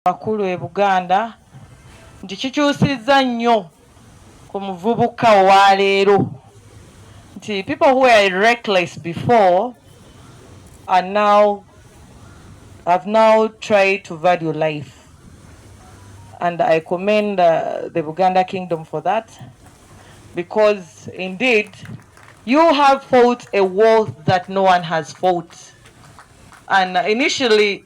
bakulu e Buganda nti kikyusizza nnyo ku muvubuka owa leero nti people who were reckless before are now have now tried to value life and I commend uh, the Buganda kingdom for that because indeed you have fought a war that no one has fought and initially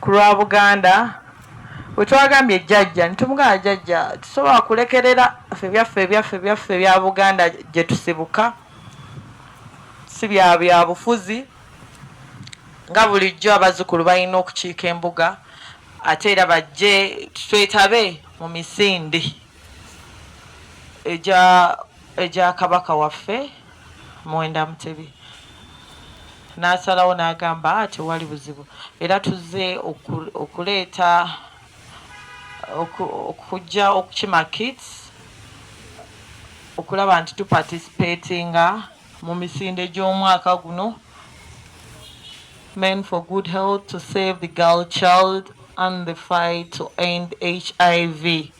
kulwa Buganda wetwagambye jjajja netumugamba jjajja tusobola kulekerera fe byaffe ebyaffe byaffe bya Buganda gyetusibuka si bya byabufuzi nga bulijjo abazukulu balina okukiika embuga ate era bajje twetabe mu misinde egya egya Kabaka waffe. Muwenda Mutebi n'asalawo n'agamba tewali buzibu era tuzze okuleeta okujja okukima kits okulaba nti tupatisipeetinga mu misinde gy'omwaka guno men for good health to save the girl child and the fight to end hiv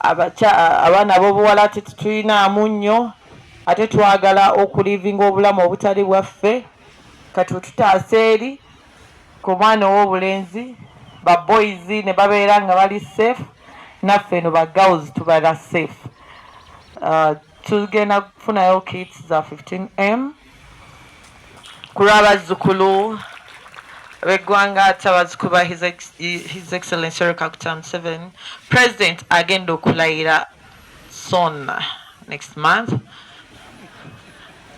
Abakya, abaana abobuwala ate tetuyinaamu nnyo ate twagala okulivinga obulamu obutali bwaffe kati wetutaasa eri ku mwana owobulenzi ba boys nebabeera nga bali safe naffe eno ba girls tubera safe. Tugenda kufunayo kits za 15M. ku lw'abazzukulu b'eggwanga ate abazzukulu ba his excellence Yoweri Kaguta Museveni president agenda okulayira son next month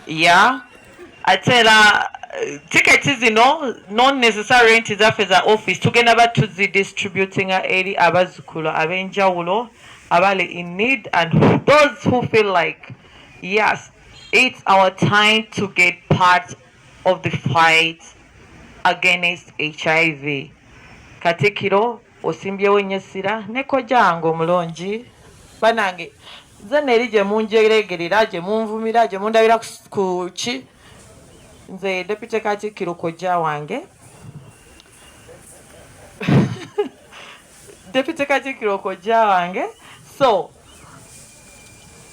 ya ate era eh, tiketi zino non necessary nti zaffe za office tugenda ba tuzidistributinga eri abazzukulu ab'enjawulo abali in need and those who feel like yes It's our time to get part of the fight against HIV. Katikiro osimbyewo nnyo essira ne kojango omulungi banange nze neeri gye munjeregerera gye munvumira gye mundabira ku ki nze depute katikiro kojja wange Deputy Katikkiro kojja wange so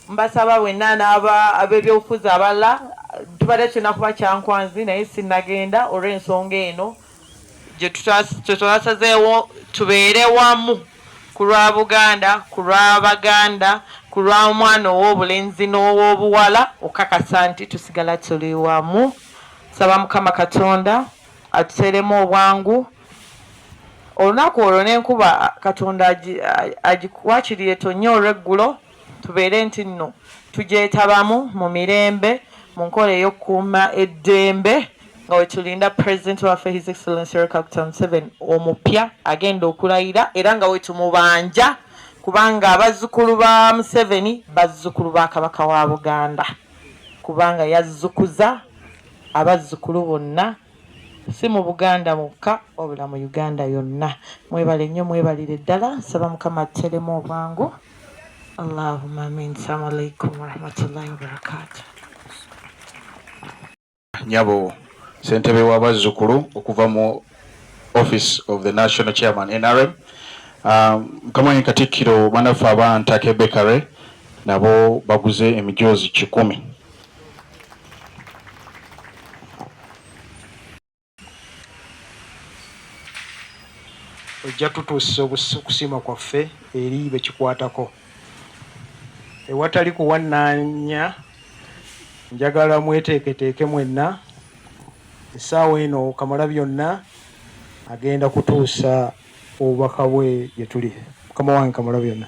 mbasaba wenna n'aba ab'ebyobufuzi abalala tubadde tulina kuba kyankwanzi naye sinnagenda olw'ensonga eno gye twasazeewo tubeere wamu ku lwa Buganda ku lwa Baganda ku lwa mwana ow'obulenzi n'ow'obuwala okukakasa nti tusigala tuli wamu. Nsaba Mukama Katonda. atuteremu obwangu olunaku olwo n'enkuba katonda wakiri etonnya olw'eggulo tubeere nti nno tugyetabamu mu mirembe mu nkola ey'okukuuma eddembe nga wetulinda pulezidenti waffe his excellence rekakta museven omupya agenda okulayira era nga wetumubanja kubanga abazzukulu ba museveni bazzukulu ba kabaka wa buganda kubanga yazzukuza Abazzukulu bonna si mu Buganda mwokka wabula mu Uganda yonna mwebale nnyo mwebalire ddala nsaba Mukama atteremu obwangu Allahumma amin Assalamu alaikum warahmatullahi wabarakatuh Nyabo Sentebe wa bazzukulu okuva mu Office of the National Chairman NRM um, Mukama um, Katikkiro banaffe aba Ntake Bakery nabo baguze emijoozi kikumi ojja tutuusa okusiima kwaffe eri bekikwatako ewatali kuwannaanya njagala mweteeketeeke mwenna essaawa eno kamala byonna agenda kutuusa obubaka bwe gye tuli mukama wange kamala byonna